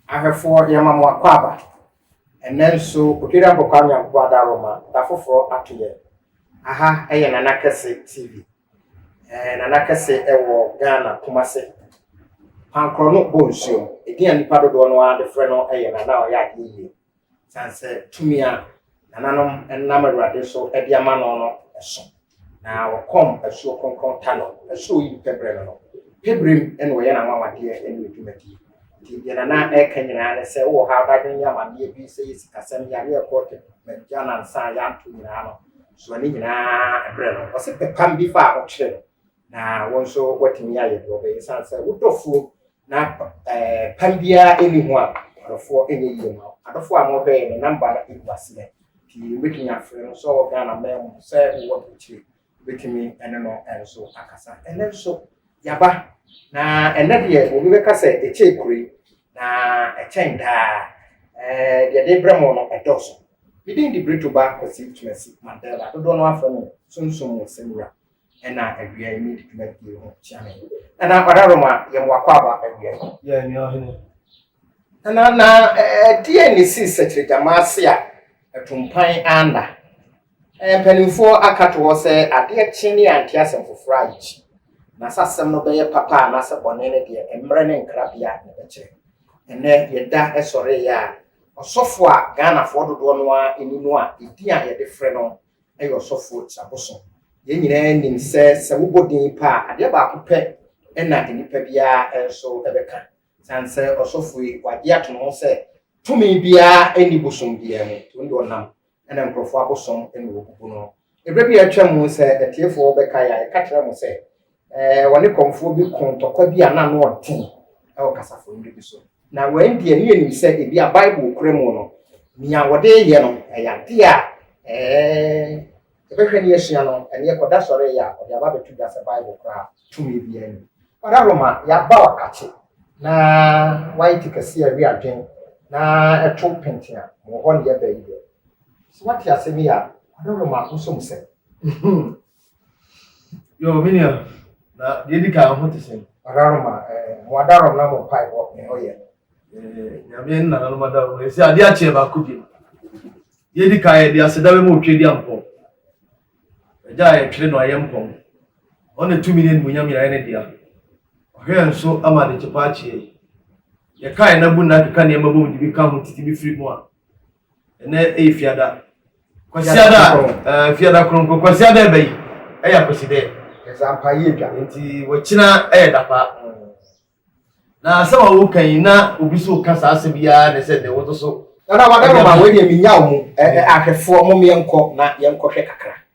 Ahwɛfoɔ, Yɛma mo akwaaba. Ɛnnɛ nso, Odwira Nkɔkwaa Nyankopɔn ada Roma da foforɔ ato yɛn. Aha yɛ Nana Kɛse TV. Ɛɛ Nana Kɛse wɔ Ghana, Kumase. Pankorɔ no bɔ nsuom. Edin a nnipa dodoɔ no ara de frɛ no yɛ Nana a ɔyɛ adeɛ yie. Esiane sɛ tumi a nananom nam Awurade so de ama no no sõ, na wɔkɔm asuo kronkron ta no, asuo yi pɛ berɛ no no, pɛ berɛ mu na wɔyɛ n'anwanwadeɛ ne ne dwumadie. Nti deɛ Nana reka nyinaa ne sɛ, wowɔ ha w'adwene yɛ amanneɛ bi, sɛ yɛ sikasɛm, yare a ɛkɔ magya nansa a yɛanto nyinaa no, soa ne nyinaa berɛ no. Ɔse pɛ pam bi fa a ɔkyerɛ no, na wo nso woatumi ayɛ deɛ ɔbɛyɛ. Esiane sɛ wo dɔfoɔ Na eh, pam biara ɛni ho a adɔfoɔ ɛnyɛ yie ma adɔfoɔ a mɔhwɛɛ ne namba no ɛgu aseɛ pii wobɛtumi afrɛ no sɛ ɔwɔ Ghana man mu sɛ wowɔ aburukyire wobɛtumi ɛne no ɛnso akasa ɛnɛ nso yaba na ɛnɛ deɛ obi bɛka sɛ ɛkyɛɛ kure na ɛkyɛn daa eh, deɛ de brɛ mo no ɛdɔɔso medin de Brito ba Kwasi Tumasi Mandela dodoɔ no afrɛ no sunsum mu sɛmura ɛna awia yi ne dwuma die ho kyia me ɛna ɔda roma yɛ mo wakɔ aba awia yi yɛ ni ɔhene ɛna na ɛdeɛ ne si sɛkyerɛ gyama ase a ɛtompan anda mpanimfoɔ aka to hɔ sɛ adeɛ kye ne ante asɛm foforɔ a yɛkyi na sɛ asɛm no bɛyɛ papa a nasɛ bɔne no deɛ mmerɛ ne nkrabea na ɛbɛkyerɛ ɛnɛ yɛda ɛsɔreeɛ a ɔsɔfo a ghanafoɔ dodoɔ no a ɛni no a ɛdi a yɛde frɛ no yɛ ɔsɔfoɔ ti abosom. Yɛn nyinaa nim sɛ, sɛ wobɔ din pɛ a, adeɛ baako pɛ na nnipa biara nso bɛka. Ɛsiane sɛ ɔsɔfoɔ yi, wagye ato ne ho sɛ tumi biara nni bosom biara mu nti, ɔno deɛ ɔnam na nkurɔfoɔ abosom na wɔbubu no. Berɛ bi a atwam sɛ atiefoɔ bɛkae a, yɛka kyerɛɛ mo sɛ, Ɛɛ, wɔne kɔmfoɔ bi koo ntɔkwa bi a na ano ɔden wɔ kasafo nnuro bi so. Na wɔn deɛ ne yɛnim sɛ ebi a Bible kura mu no, nea wɔde yɛ no ɛyɛ adeɛ a ɛɛ yɛbɛhwɛ ne yɛsua no, ɛne ɛkɔda sɔre yɛ a wɔde aba abɛto dwa sɛ Bible koraa tumi biara ni. Ɔda Roma yɛaba ɔkakye na wɔayɛ te kɛse a ɛwe adwene na ɛto penten a, wɔ hɔ ne yɛba yi deɛ. Sɛ woate asɛm yi a, ɔda Roma wosɔ mu sɛ. Yo, me nua, na deɛ di kan ho te sɛn? Adarom a, ɛɛ, eh, mo adarom na mo mpae wɔ me hɔ yɛ. Eh, nyame nna na nom adarom yɛ. Ɛsɛ adeɛ akyeɛ baako bi. Deɛ di kan yɛ de aseda bɛma otwe di ampɔ. Agya a yɛtwere no ayɛ mpɔm. Ɔne tumi ne animuonyam nyinaa ne dea. Ɔhwɛ nso ama de kyepa akyeɛ. Yɛkae na bu nna keka nneɛma bom de bi ka ho tete bi firi mu a, ɛnɛ ɛyɛ fiada kwasiada ɛɛ fiada kronkron kwasiada ɛbɛ yi ɛyɛ akwasidɛ ɛsɛ ampa yie dwa nti wɔkyina ɛyɛ dapa na asɛm a wɔka yi na obi so ka saa asɛm biara na ɛsɛ dɛ wɔto so. nana wadama ma wɔn deɛ menya wɔn ahwɛfoɔ mo yɛnkɔ na yɛnkɔhwɛ kakra.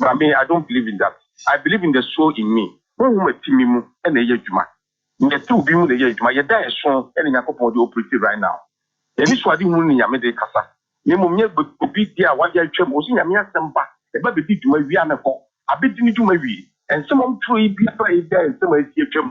But me I don't believe in that I believe in the soul in me Honhom a ɛte me mu na ɛyɛ adwuma Nea ɛte obi mu na ɛyɛ adwuma Yɛda ɛso na Nyankopɔn de operate right now Anisoadehunu ne Nyame de kasa Na mmom nyɛ obi deɛ a wayɛ atwam Ɔse Nyame asɛm ba ɛba bɛdi dwuma wie a na ɛkɔ Abɛdi ne dwuma wie Nsɛm a wɔtwerɛ yi biara yɛ nsɛm a asi atwam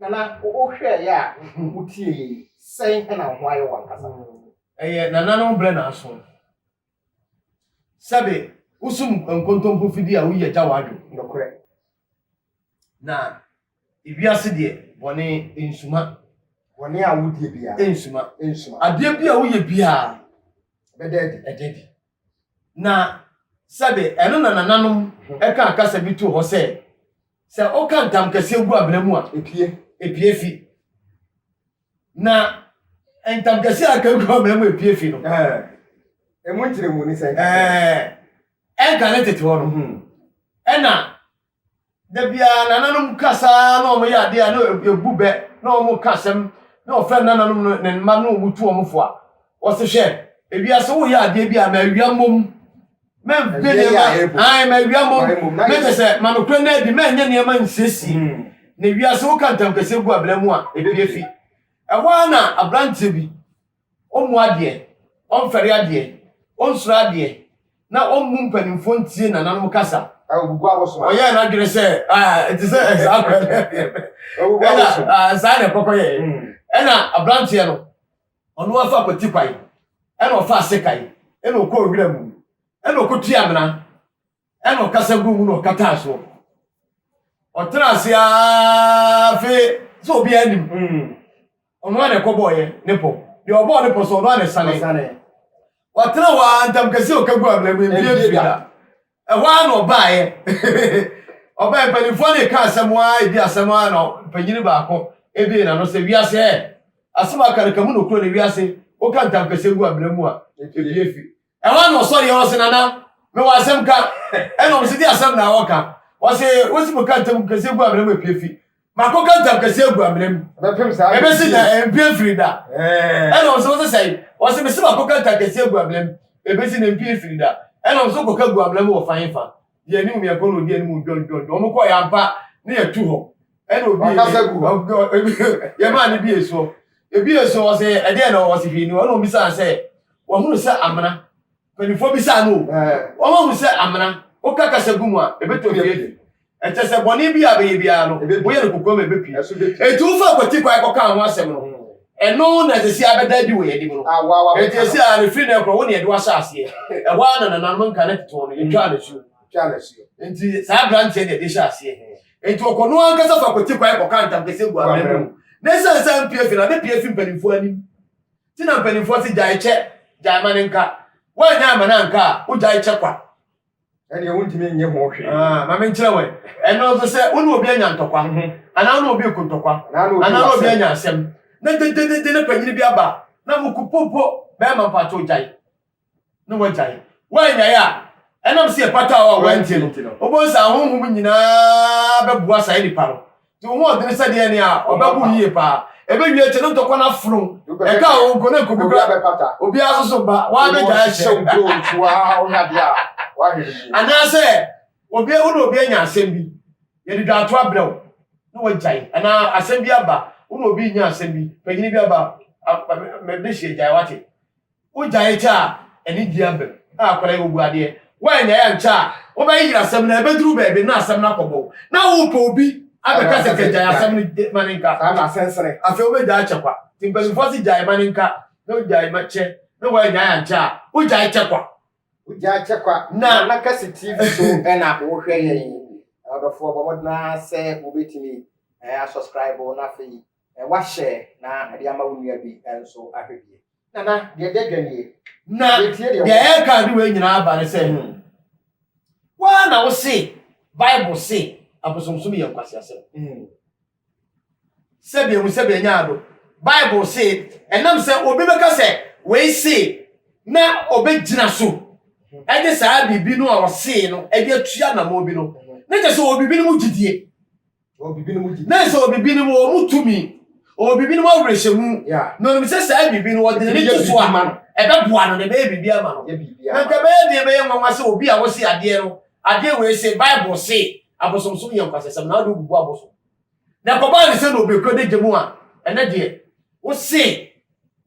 Na na wohwɛɛ yɛ a wotie yɛ yi, sɛn na wo ho ayɛ wo ankasa? Ɛyɛ nananom brɛ na aso. Sɛbe wosum nkontompo fidi a woyi agya w'adwo. Nokorɛ. Na ewiase deɛ bɔne nsuma. Bɔne a wodie biara. Nsuma. Nsuma. Adeɛ bi a woyɛ biara. Ɛbɛda adi. Ɛda adi. Na sɛbe ɛno na nananom ɛka kasa bi too hɔ sɛ, Sɛ woka ntam kɛseɛ gu abena mu a, epie. epie fi. Na ntam kɛseɛ a aka gu abena mu epie fi no. Ɛmu nkyerɛmu ne sɛ nka ɛnka ne tete hɔ no. Mhm. Ɛna da biara nananom kasaa na wɔyɛ adeɛ a na ɛbu bɛ na wɔka asɛm na wɔfrɛ nananom no ne mma na wɔtu wɔn fo a wɔse hwɛ ewiase woyɛ adeɛ bi a ma awia mmom. mɛmpɛ nneɛma ae mawia mmom na kyɛ sɛ ma nokorɛ no adi mɛnyɛ nneɛma nsiesie hmm. na wiase woka ntamkɛseɛ gu abena mu a ɛpie fi ɛhɔ ara na aberanteɛ bi ɔmmu adeɛ ɔmfɛre adeɛ ɔnsuro adeɛ na ɔmmu mpanimfoɔ ntie nananom kasa ɔyɛ n'adwene sɛ ɛte sɛ saa kora ɛna saa na ɛkɔkɔ yɛ ɛna aberanteɛ no Ɔno ara so akwati kwan, ɛna ɔfaa sekan, ɛna ɔkɔɔ wira mu, ɛna ɔkɔtua amena, ɛna ɔkasa guu mu na ɔkataa soɔ. Ɔtena ase ara fe sɛ obiara nim. Mm. Ɔno ara na ɛkɔbɔɔyɛ ne pɔ. Deɛ ɔbɔɔ ne pɔ so ɔno ara na ɛsane. Ɔsane. Watena hɔ ara ntam kɛseɛ ɔka gu amena mu, ɛmpie mfiri da. Ɛhɔ ara na ɔbaeɛ. Ɔbaeɛ mpanimfoɔ no reka asɛm ara, ɛdi asɛm ara na mpanyini baako ebie n'ano sɛ wiase ɛ. Asɛm a ɔka no ka mu nokorɛ no wiase woka ntamkɛseɛ gu amena mu a ɛpue fi. Ɛhɔ ara na ɔsɔreeɛ na ɔse Nana mewɔ asɛm ka. Ɛna wɔn se di asɛm na wɔka. Wɔse wosi mu ka ntamkɛseɛ gu amena mu a ɛpue fi. makɔka ntam kɛse agu amena mu ɛbɛsi na ɛmpie mfiri da ɛna ɔsɛ wɔsɛ sɛe ɔsɛ mese makɔka ntam kɛse agu amena mu ɛbɛsi na ɛmpie mfiri da ɛna ɔsɛ kɔka gu amena mu wɔ fa hefa deɛ anim yɛkɔ na ɔdi anim dwɔndwɔndwɔ ɔmo kɔ yɛampa ne yɛtu hɔ ɛna obi yɛmaa ne bi esuɔ ebi esuɔ ɔsɛ ɛdeɛ na ɔsɛ hwii no ɛna ɔmo bisaa sɛ wɔhunu sɛ amena mpanimfoɔ bisaa no wɔn ahunu sɛ amena woka kasa gu mu a ɛbɛtɔ bi Ɛkyerɛ sɛ bɔne bi a bɛyɛ biara no, woyɛ no kokoam a ɛbɛpi. Enti wofa kwati kwan kɔkaa ho asɛm no, ɛno na ɛsɛ sɛ abɛda adi wɔ yɛn anim no. Enti ɛsɛ a ɛfiri nnɛ korɔ, wo ne yɛde wo ahyɛ aseɛ. Ɛhɔ ara na nananom nka ne tete wɔn no, yɛtwaa no asuo. Enti saa aberanteɛ deɛ ɛde hyɛ aseɛ. Enti ɔkɔ no ankasa fa kwati kwan kɔka ntam kɛseɛ gu amena mu. Na ɛsiane sɛ ampue afi no, abɛpue afi mpanimfoɔ anim. Nti na mpanimfoɔ se, Gyae kyɛ, gyae ma no nka. Woanyɛ amma no anka a, wogyae kyɛ kwa. ɛneɛ wontumi nyɛ ho hwee. Ah, ma menkyerɛ wɛ. Ɛno nso sɛ wo ne obi anya ntɔkwa, mhm. anaa wo ne obi ku ntɔkwa, anaa ne obi anya asɛm, na dededede na panyini bi aba na mo ku popo, bɛrima mpa ato gyae, na wagyae. Woanyae a, ɛnam sɛ ɛpata a wɔantie no, wobɛhu sɛ ahonhom nyinaa bɛboa saa nipa no Di wo ho ɔdene sɛ deɛ nea ɔbɛbo yie paa. Ɛbɛwie kyɛ no ntɔkwa no afono. Ɛka a ɔnko no nko bi kora. Obiara so so ba, waa bɛgyae kyɛ. Anaasɛ obi ahu na obi anya asɛm bi, yɛde dwaato abrɛ wo na wagyae. Anaa asɛm bi aba, wo na obi renya asɛm bi, panyini bi aba, mede hyɛ gyae, wate. Wogyae kyɛ a, ɛne di abam. Ah, akwadaa yi, wobu adeɛ. Woannyae ankyɛ a, wobɛyeyere asɛm no, ɛbɛduru baabi na asɛm no akɔbɔ wo. Na worepɛ obi abɛka sɛ ka gyae asɛm no, ma no nka. Afei wobɛgyae akyɛ kwa. Nti mpanimfoɔ se gyae ma no nka, na wogyae ma kyɛ, na woannyae ankyɛ a, wogyae kyɛ kwa. Wogyae kyɛ kwa. Na na kɛse TV so na wohwɛ yɛn yi. Ɔdɔfoɔ, bɔ mmɔden ara sɛ wobɛtumi asɔskraibo na afei Wahyɛ na ɛde ama wo nua bi nso ahwɛ bi. Nana, deɛ ɛdi adwa nie. Na deɛ ɛreka ade wei nyinaa aba ne sɛ, wo ara na wose Bible se abosomsom yɛ nkwaseasɛm. Sɛbi ehu sɛbi anya ado. Bible se ɛnam sɛ obi bɛka sɛ wei se na ɔbɛgyina so de saa biribi no a ɔsee no de atua anammɔn bi no, na kyerɛ sɛ ɔwɔ biribi no mu gyidie. na sɛ ɔwɔ biribi no mu wɔn mu tumi ɔwɔ biribi no mu awerɛhyɛmu na ɔnim sɛ saa biribi no wɔde n'ani to so a ɛbɛboa no na ɛbɛyɛ biribi ama no na nka bɛyɛ deɛ bɛyɛ nwanwa sɛ obi a wɔse adeɛ no adeɛ wei se bible se abosomsom yɛ nkwasasɛm na wode wogugu abosom na kɔbaa ne sɛ na obɛkura de gya mu a ɛnɛ deɛ wose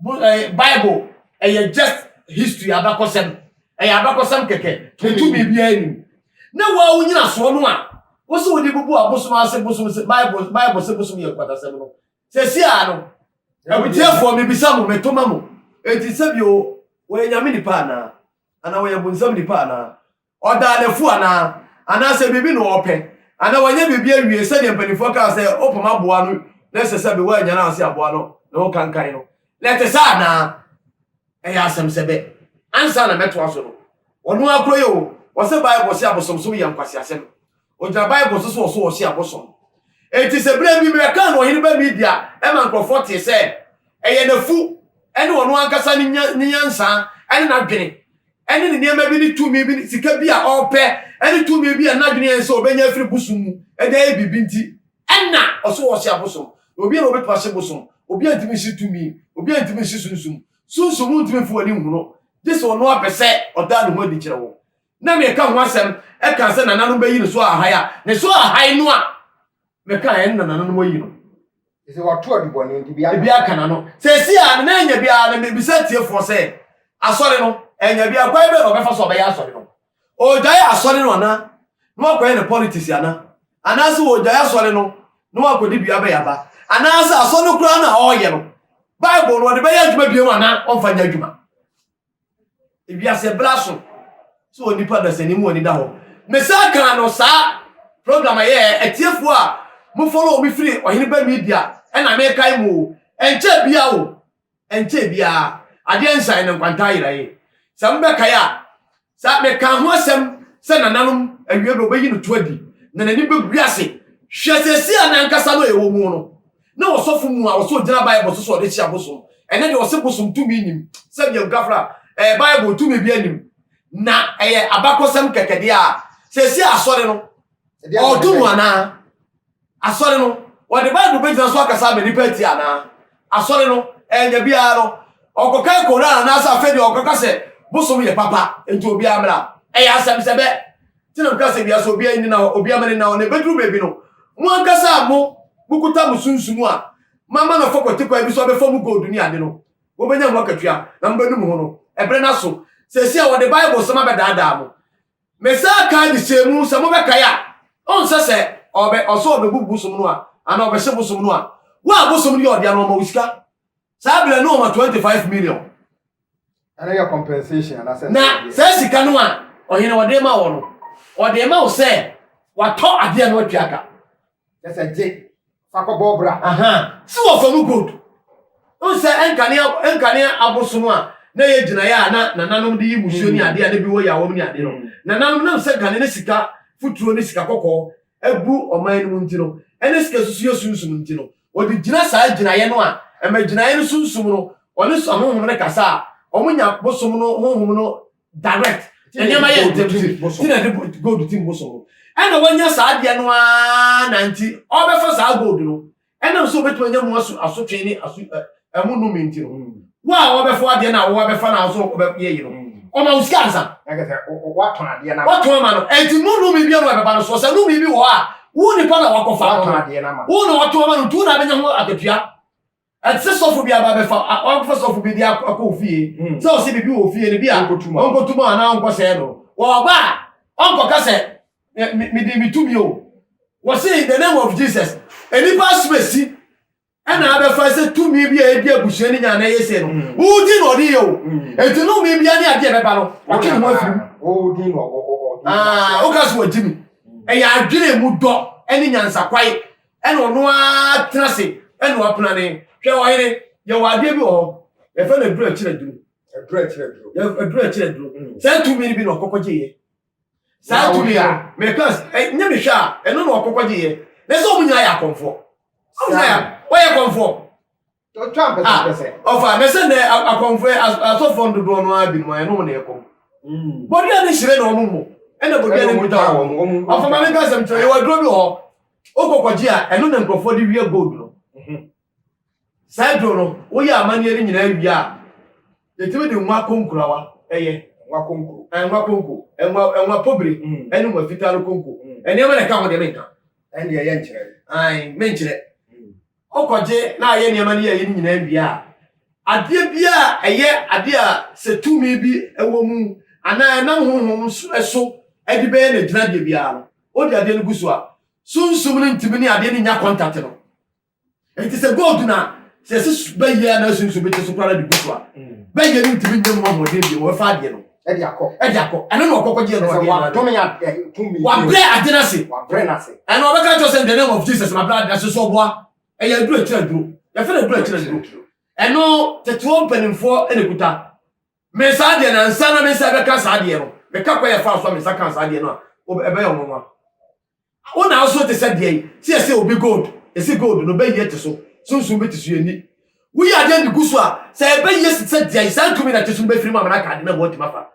bible ɛyɛ just history abakɔsɛm ɛyɛ abakɔsɛm kɛkɛ ɛtu biribiara nim na waa wonyina soɔ no a wo so wode bubu abosom ase bosom se bible bible se bosom yɛ nkwatasɛm no sɛsi a no abitiafoɔ mebisa mo metoma mo enti sɛbio wɔyɛ nyame nipa anaa anaa wɔyɛ bonsam nipa anaa Ɔdaa no afu anaa? Anaasɛ biribi na ɔrepɛ? Anaa wanyɛ biribi awie sɛdeɛ mpanimfoɔ kaa sɛ wopam aboa no na ɛsɛ sɛ Bewa nya no ase aboa no ne ho kankan no? Na ɛte saa anaa? Ɛyɛ asɛm sɛ bɛ. Ansa na mɛtoa so no, ɔno ara kura yɛ o, ɔse Bible se abosomsom yɛ nkwaseasɛm. Ogyina Bible so sɛ ɔsɔ ɔhye abosom. Enti sɛ berɛ bi Mekan no ɔhene ba Media ma nkurɔfoɔ tee sɛ ɛyɛ n'afu ne ɔno ankasa ne nyansa ne n'adwene ne ne nneɛma bi ne tumi bi ne sika bi a ɔrepɛ ne tumi bi a n'adwene yɛn sɛ ɔbɛnya afiri bosom mu de ayɛ biribi nti ɛna ɔsɔ ɔhye abosom. Na obi a na ɔbɛpa hye bosom, obi antumi nhye tumi, obi antumi nhye sunsum, sunsum ntumi mfa w'ani nhu no, gye sɛ ɔno ara pɛ sɛ ɔda ne ho adi kyerɛ wo. na meka ho asɛm ɛka sɛ nananom bɛyi ne so ahae a ne so ahae no a meka ɛn na nananom ayi no sɛ wato adubɔne nti bi aka n'ano sɛsi a ne na anya bi a na mebisa tiefoɔ sɛ asɔre no anya bi akwan bɛ na ɔbɛfa so ɔbɛyɛ asɔre no ɔgyae asɔre no ana na wakɔyɛ ne politics ana anaasɛ ɔgyae asɔre no na wakɔde dua bɛyɛ aba anaasɛ asɔre no koraa no a ɔreyɛ no bible no ɔde bɛyɛ adwuma biom ana ɔmfa nyɛ adwuma ewiase bra so sɛ onipa dasani mu ani da hɔ mesan kaa no saa program a yɛyɛ atiefoɔ a mofɔlɔ me firi ɔhene ba media ɛna mekae mu o ɛnkyɛ bia o ɛnkyɛ biaa adeɛ nsan no nkwantaa yera ye sɛ mobɛkae a saa meka ho asɛm sɛ nananom awie bɛ ɔbɛyi no to adi na n'ani bɛgu ase hwɛ sɛsi a nankasa no ɛwɔ mu no Na ɔsɔfo mu a ɔsɛ ogyina Bible so sɛ ɔde kye abosom. Ɛnɛ deɛ ɔse bosom tumi nim sɛ deɛ nkafra ɛyɛ Bible tumi bi anim na ɛyɛ abakɔsɛm kɛkɛ deɛ a sɛsi asɔre no ɔɔto mu anaa asɔre no ɔde Bible bɛgyina so akasa ama nipa ati anaa asɔre no ɛnyɛ biara no ɔkɔkan Koran anaasɛ afei deɛ ɔkɔka sɛ bosom yɛ papa nti obiara mmra ɛyɛ asɛm sɛ bɛ Nti na meka sɛ wiase obiara nni nna hɔ, obiara ma ne nna hɔ, na ɛbɛduru baabi no, mo ankasa a mo, mokuta mo sunsum a moama no afa kwati kwan bi so abɛfa mo gold ne ade no, wɔbɛnya mo akatua, na mobɛnu mo ho no. Ɛberɛ no aso. Seesei a wɔde Biblesɛm abɛdaadaa mo. Mesan kaa de hyɛɛ mu, sɛ mobɛkae a, ɔnsɛ sɛ ɔbɛ, ɔsɛ ɔbɛbu bosom no a, anaa ɔbɛhye bosom no a, wo a bosom no yɛ ɔdea no, ɔma wo sika. Saa berɛ no ɔma 25 million. Ɛno yɛ compensation anaasɛ. Na saa sika no a ɔhene ɔde ma wɔ no, ɔde ma wo sɛ watɔ adeɛ no watwa aka. Kyɛ sɛ gye fa kɔbɔ bra. Sɛ wɔfa mu gold. Wohu sɛ ɛnkane ɛnkane abosom a na ɛyɛ gyinaeɛ a na nananom de yi musuo ne adeɛ a na bi wɔ yawam ne adeɛ no. Nananom nam sɛ nkane ne sika futuro ne sika kɔkɔɔ abu ɔman no mu nti no, ɛne sika susuiɛ sunsum nti no, Wɔde gyina saa gyinaeɛ no a ɛma gyinaeɛ no sunsum no ɔne sua honhom no kasa a wɔnya bosom no honhom no direct nneɛma yɛ ntɛm ti ti na de gold tim bosom no ɛna wɔnya saa adeɛ no ara na nti ɔbɛfa saa gold no ɛnam sɛ wɔbɛtumi anya mu aso asotwe ne aso ɛmu nnome nti no mm. wo a wɔbɛfo adeɛ no a wo abɛfa no a so wobɛyɛ yi no mm. ɔma wo sika ansa watɔn adeɛ no watɔn ama no ɛnti no nnome bi ano ɛbɛba no soɔ sɛ nnome bi wɔ hɔ a wo nipa na wakɔfa no wo na watɔn ama no nti wo na abɛnya ho akatua ɛte sɛ sɔfo bi aba bɛfa ɔfa sɔfo bi de akɔ fie mm. sɛ ɔsɛ biribi wɔ fie no bi a ɔnkɔtuma anaa ɔnkɔsɛɛ no wɔba a ɔnkɔka sɛ mede metumi o wɔse in the name of jesus nnipa asomasi ɛna abɛfa sɛ tumi bi a ɛdi abusua no nya na ɛyɛ sɛ no mm. wodin na ɔde yɛ o mm. enti no mi bia ne adeɛ bɛba no ɔtwe ne ho afiri mu ah, woka so wɔgye mi mm. ɛyɛ adwene mu dɔ ne nyansakwae ɛna ɔno ara tena se ɛna ɔpena ne hwɛ ɔyere yɛwɔ adeɛ bi wɔ hɔ yɛfɛ no aduru akyerɛ duro aduru akyerɛ duro sɛ tumi bi na ɔkɔkɔgye yɛ Saa tumi no, meka sɛ, eh, nyɛ mehwɛ a, ɛno na wɔkɔkɔgyeeɛ. Na sɛ wɔn nyinaa yɛ akɔmfoɔ. Wɔn nyinaa yɛ, wɔyɛ akɔmfoɔ. Ah, ɔfa, na sɛ nnɛ akɔmfoɔ, asɔfoɔ no dodoɔ no ara binom a, ɛno wɔn na ɛkɔm. Mm. Bɔdua no hyerɛ na wɔn mmɔ. Ɛna bɔdua no nkuta wɔn. Ɔfa ma meka sɛm kyerɛ, yɛwɔ aduro bi wɔ hɔ, wokɔkɔgye a, ɛno na nkurɔfoɔ de wia gold no. Mhm. Saa aduro no, woyɛ amanneɛ no nyinaa wie a, yɛtumi de nwa konkurawa yɛ. Nwa konko. Ɛɛ nwa konko, nwa nwa pobire, ɛne nwa fitaa no konko. Nneɛma na ɛka ho deɛ menka. Ɛndeɛ yɛ nkyerɛ. Ae, menkyerɛ. Wokɔgye na ayɛ nneɛma no yɛyɛ no nyinaa wie a, adeɛ bi a ɛyɛ adeɛ a sɛ tumi bi wɔ mu anaa ɛnam honhom so de bɛyɛ n'agyinadeɛ biara no, wode adeɛ no gu so a, sunsum no ntumi ne adeɛ no nnya kɔntate no. Enti sɛ gold na sɛ ɛsi su bɛyɛ a na sunsun bi te so koraa de gu so a mm. bɛyɛ no ntumi nyɛ mu ahoɔden bi wɔbɛfa adeɛ no ɛde akɔ ɛde akɔ ɛno na ɔkɔkɔ gyeɛ no ɔdeɛ no wabrɛ ade no ase wabrɛ no ase ɛna ɔbɛka kyerɛ sɛ the name of Jesus mabrɛ ade no ase so ɔboa ɛyɛ aduro akyerɛ aduro yɛfrɛ no aduro akyerɛ aduro ɛno teteɔ mpanimfoɔ ɛna kuta me saa deɛ na nsa na me nsa bɛka saa deɛ no meka kɔ yɛ fa so a me nsa ka saa deɛ no a ɛbɛyɛ ɔnwanwa Wo na wo so te sɛ deɛn? Sɛ yɛse obi gold, yɛse gold no bɛyie te so, sunsum bi te so, yɛnni. Woyi adeɛ de gu so a, sɛ ɛbɛyie te sɛ deɛn? Saa tumi na ɛte so no bɛfiri mu ama no aka ade no ama watumi afa.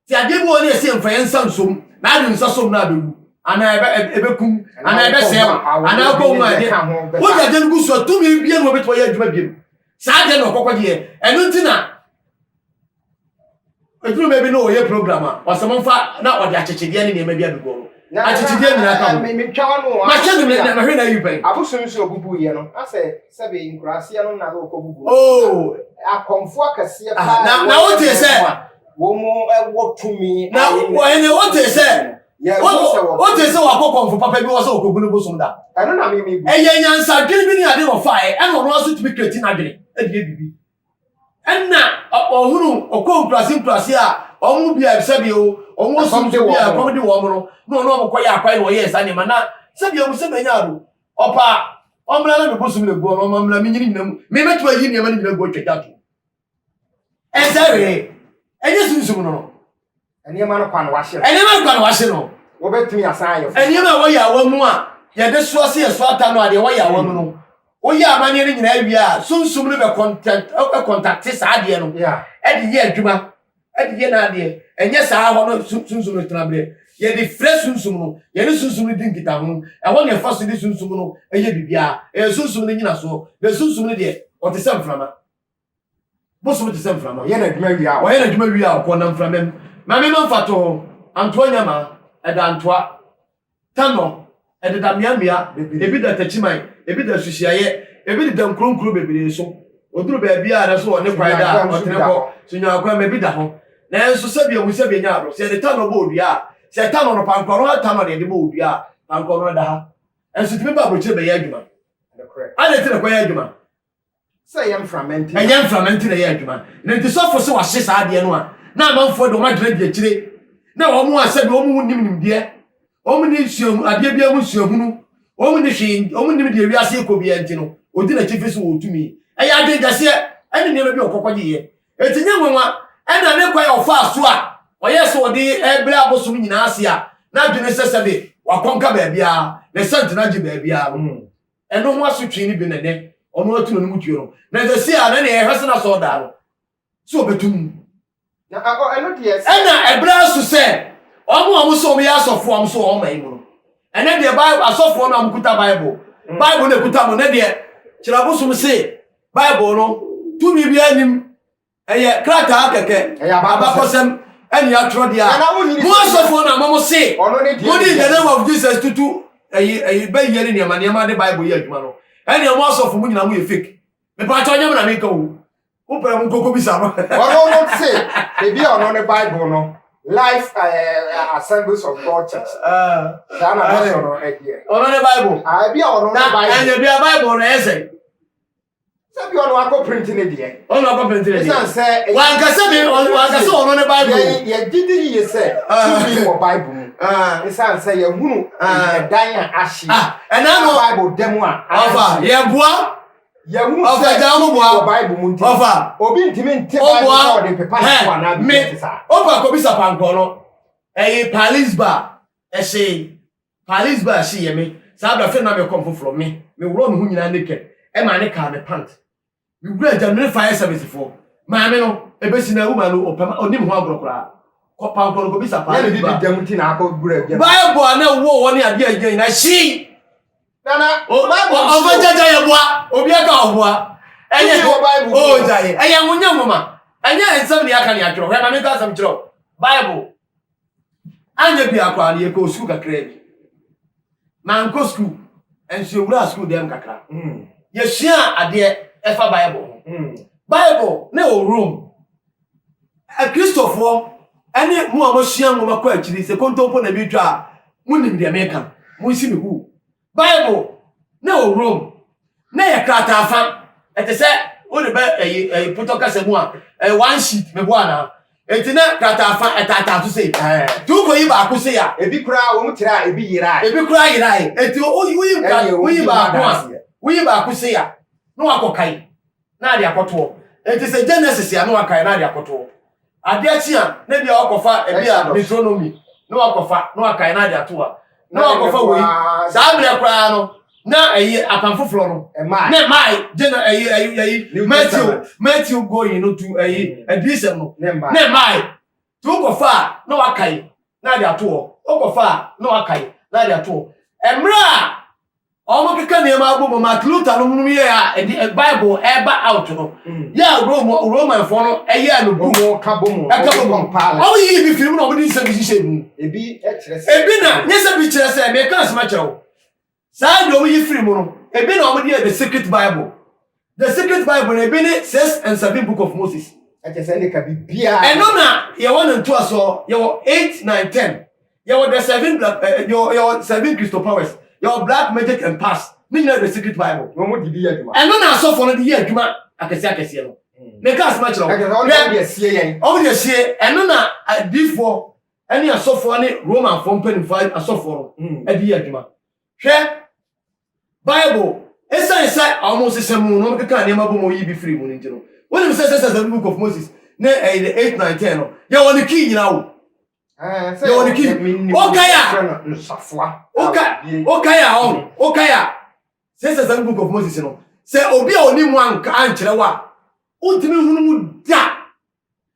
Te adeɛ bi wɔ hɔ no yɛse yɛmfa yɛn nsa nsom na ade nsa som no a ɛbɛwu, anaa ɛbɛ, ɛbɛkum, anaa ɛbɛsɛe wo, anaa wokɔ ho a ɛdeɛ. Wode adeɛ no gu so a, tumi bia ne wɔbɛtumi ayɛ adwuma biom. Saa adeɛ no na ɔkɔkɔgyeɛ. Ɛno nti na. Ɛduru baabi na ɔyɛ program a, ɔsɛ mo mfa na ɔde akyekyedeɛ ne nneɛma bi abɛgu ɔmo. Akyekyedeɛ nyinaa ka ho. Mahyɛ no mɛ mahwɛ na ayi pɛn. Abosom so obubu yɛ no asɛ sɛbi nkuraseɛ no na na ɔkɔ bubu. Oh. Akɔmfo akɛseɛ ah, paa. Na na wote sɛ. Wɔn ɛwɔ tumi. Na wɔn ɛwɔ te sɛ. Wote sɛ wakɔ kɔmfo papa bi wɔ sɛ ɔkɔgu no bosom da. Ɛno na mimi bu. Ɛyɛ nyansadwene bi ne ade na ɔfaeɛ ɛna ɔno aso tumi kreti n'adwene ɛde yɛ biribi. Ɛnna ɔhunu ɔkɔɔ nkuraase nkuraase a wɔn mu bi a sɛdeɛ wɔn wɔ sum so bi a ɛkɔm de wɔn no na wɔn a wɔkɔyɛ akwan na wɔyɛɛ saa nneɛma na sɛdeɛ wɔn sɛ bɛnya ado ɔpaa wɔn mmra na mebɔ sum na egu wɔn wɔn mmra menyini nyina mu memɛtumi ayi nneɛma no nyina gu atwa gya to ɛsɛ wee ɛnyɛ sunsum no no Nneɛma no kwa na wɔahye no. Nneɛma no kwa na wɔahye no. Wobɛtumi asan ayɛ foforo. Nneɛma a wɔyɛ awa mu a yɛde soa sɛ yɛsoa ata no a deɛ wɔyɛ awa mu no, woyɛ amanneɛ no nyinaa wie a, sunsum no bɛkɔntakte saa adeɛ no de yɛ adwuma de yɛ n'adeɛ. Ɛnyɛ saa hɔ no sunsum no tena berɛ. Yɛde frɛ sunsum no, yɛne sunsum no di nkitaho. Ɛhɔ na yɛfa so de sunsum no yɛ biribiara. Ɛyɛ sunsum no nnyinasoɔ. Na sunsum no deɛ, ɔte sɛ mframa. Bosom te sɛ mframa, ɔyɛ n'adwuma wie a, ɔyɛ n'adwuma wie a ɔkɔ na mframa mu. Ma me ma mfa to ho, antoa nyama, ɛda antoa, tanɔ, ɛdeda mmeammea bebree, ebi da takyiman, ebi da asuhyiaeɛ, ebi deda nkuronkuro bebree so. Ɔduru baabi a na so ɔne kwae da a, ɔtene kɔ, so nyaakwa ma bi da ho. Nanso sɛdeɛ mu sɛdeɛ nya adɔ, sɛ yɛde tanɔ bɔ odua a, sɛ tanɔ no, pankora no ha tanɔ na yɛde bɔ odua a, pankora no da ha. Nanso ɛtumi ba aburokyire bɛyɛ adwuma. Adɛn nti na ɛkɔyɛ adwuma? sɛ ɛyɛ mframa nti ɛyɛ mframa nti na ɛyɛ adwuma na nti sɔfo sɛ wahye saa adeɛ no a na amanfoɔ de wɔn agyina di akyire na wɔn a sɛbi wɔn nim nimdeɛ wɔn ne sua adeɛ biara mu suahunu wɔn ne hwee wɔn nim deɛ wiase kɔ biara nti no odi n'akyifi so wɔ tumi ɛyɛ adwenkɛseɛ ɛne nneɛma bi a ɔkɔkɔ gye yɛ eti nye nwanwa ɛna ne kwan a ɔfaa so a ɔyɛ sɛ ɔde ɛbrɛ abosom nyinaa ase a n'adwene sɛ sɛbi wakɔnka baabiara ne sɛntena gye baabiara mu. Ɛno ho asotwee no bi na ɛnɛ ɔno atu n'anom tuo no. Na ɛsɛ si a na nea ɛhwɛ sɛ na sɛ ɔdaa no sɛ ɔbɛtu mu. Na akɔ ɛno deɛ sɛ. Ɛna ɛbrɛ aso sɛ wɔn a wɔn sɛ wɔn yɛ asɔfoɔ a wɔn so wɔn man mu no. Ɛnɛ deɛ Bible asɔfoɔ no a wɔkuta Bible mm. Bible na ɛkuta mo. Ɛnɛ deɛ kyerɛ abosom se Bible no tumi biara nim Ɛyɛ krataa kɛkɛ, abakɔsɛm ɛne atwerɛdeɛ a mo asɔfoɔ no ama mo se mo de in the name of Jesus tutu ɛyi ɛyi bɛyie ne nneɛma nneɛma de Bible yɛ adwuma no ɛne mo asɔfo mo nyinaa mo yɛ fake mepatwa nyɛ mo na meka o mo pɛ mo nkoko bi sa no. ɔno no te ebi a ɔno ne Bible no life uh, eh, eh, assemblies of God church ah. saa na n'asɔrɔ ɛdeɛ ɔno ne Bible ebi a ɔno ne Bible na ɛnyɛ bi a Bible na ɛsɛ. sɛbi ɔno akɔ printi ne deɛ ɔno akɔ printi ne deɛ ɛsan sɛ wankasa mi wankasa ɔno ne bible yɛ yɛ gidi yie sɛ ah. tumi wɔ bible mu ah. ɛsan sɛ yɛ hunu ah. ɛdan a ahye ɛna no bible dɛm a ɔfa yɛ boa yɛ hunu sɛ tumi wɔ bible mu nti ɔfa obi ntumi nte bible sɛ ɔde pepa ne so anaa bi ti sa ɔfa kɔbi sa pankɔ no ɛyɛ paris bar ɛhyɛ. Paris baa hye yɛ me saa bra fɛ na me kɔm foforɔ me me worɔ me ho nyinaa naked ɛmaa ne kaa me pant me wura gya mene fire service foɔ maame no ɛbɛsi na woman no ɔpɛ ma ɔnim ho agorɔ koraa kɔ pankɔ no kɔbisa Paris baa Bible a na ɛwɔ hɔ ne adeɛ a ɛgyina nyinaa hyee Nana, ɔmfa gyagya yɛ boa obi aka ɔboa ɛyɛ ɔgyae ɛyɛ nwonyɛ nwoma ɛnyɛ nsɛm ne aka ne atwerɛ hwɛ ma menka asɛm kyerɛ wo Bible Anyɛ biako a, yɛkɔɔ sukuu kakraa bi. Mankɔ sukuu, nso yɛwuraa sukuu dan mu kakra. Hmm. Yɛsuaa adeɛ ɛfa Bible ho. Hmm. Bible na ɛwɔ Rome. Akristofoɔ ɛne mo a moasua nwoma kɔ akyiri sɛ kontompo na meretwa a, monim deɛ meka. Monsi me huu. Bible na wɔ Rome na yɛ krataa fa ɛte sɛ wode bɛ ɛyi ɛyi potɔ kasa mu a ɛyɛ one sheet mebo anaa eti na krataa fa ɛtaataa so sei ɛɛ ti wokɔ yi baako sei a ebi koraa wɔn kyerɛ a ebi yera ebi koraa yera eti woyi woyi baako a woyi baako sei a na wakɔ kae na ade akɔtoɔ. Enti sɛ Genesis a na wakae na ade akɔtoɔ. Ade akyi a na bi a wakɔfa ebi a Deuteronomy na wakɔfa na wakae na ade ato a na wakɔfa wei. Saa mmerɛ koraa no na ɛyi apam foforɔ no na ɛmae gyena ɛyi ɛyi ɛyi Matthew Matthew going no to ɛyi adiyisɛm no na ɛmae. Nti wokɔfa a na wakae na ade ato hɔ, wokɔfa a na wakae na ade ato hɔ. Mmerɛ a wɔn keka nneɛma abɔ mu Martin Luther no mu yɛ a ɛde eh, Bible ɛba out no mm. yɛ a Rome Romanfoɔ no ɛyɛ no book ɛka bɔ mu wɔn yi ibi firi mu na wɔn de nsɛm bi hyehyɛ mu. Ebi na nyɛ sɛ bi kyerɛ sɛ mɛka asɛm akyerɛ wo. Saa nnwom yi firi mu no, ebi na wɔde yɛɛ The Secret Bible. The Secret Bible no, ebi ne Six and Seven Book of Moses. Ɛkyɛ sɛ ɛne ka biribiara. Ɛno na yɛwɔ ne ntoasoɔ, yɛwɔ eight, nine, ten. Yɛwɔ the seven black, eh, yɛwɔ, yɛwɔ seven Christo powers, yɛwɔ black magic and past. Ne nyinaa The Secret Bible. Na wɔn de bi yɛ adwuma. Ɛno na asɔfoɔ no de yɛ adwuma akɛseɛ akɛseɛ no. Meka asɛm akyerɛ wo. Ɛkyɛ sɛ wɔn de asie yɛn. Wɔn de asie, ɛno na adiifoɔ ɛne asɔfoɔ ne Romanfoɔ mpanimfoɔ a asɔfoɔ no de yɛ adwuma. Hwɛ Bible. Ɛsiane sɛ wɔsesa mu na wɔkeka nneɛma bom a wɔyi bi firi mu no nti no, wonim sɛ sɛ sɛ Book of Moses ne ɛyɛ the eight nine ten no yɛwɔ ne kii nyinaa o. Yɛwɔ ne kii. Wokae a wokae a ɔn wokae a sɛ sɛ sɛ Book of Moses no sɛ obi a ɔnim anka ankyerɛ wo a wontumi hunu mu da.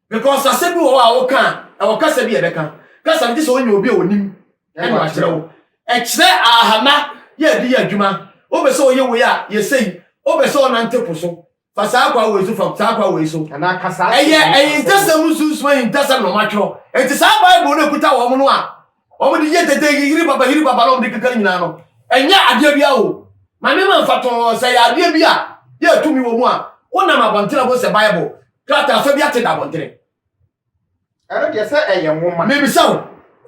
Because asɛm bi wɔ hɔ a woka a, ɛwɔ kasa bi a ɛbɛka. Kasa no gye sɛ wonya obi a onim ɛna wakyerɛ wo. Ɛkyerɛ ahama yɛ ɛde yɛ adwuma. Wopɛ sɛ woyɛ wei a, yɛ sei. Wopɛ sɛ wonante po so, fa saa kwa wei so, fa saa kwa wei so. Ɛyɛ ahintasɛm mu sunsum ahintasɛm na wɔatwerɛ. Enti saa Bible no a ɛkuta wɔn no a Wɔn de yɛ dede yi yiri papa yiri papa na wɔn de keka ne nyinaa no ɛnyɛ adeɛ bi awo ma nneɛma nfa tɔn sɛ yɛ adeɛ bi a yɛ atumi wɔ mu a wonam abɔntene ho sɛ bible krataa fa bi ate da abɔntene ɛno deɛ sɛ ɛyɛ nwoma mebisa wo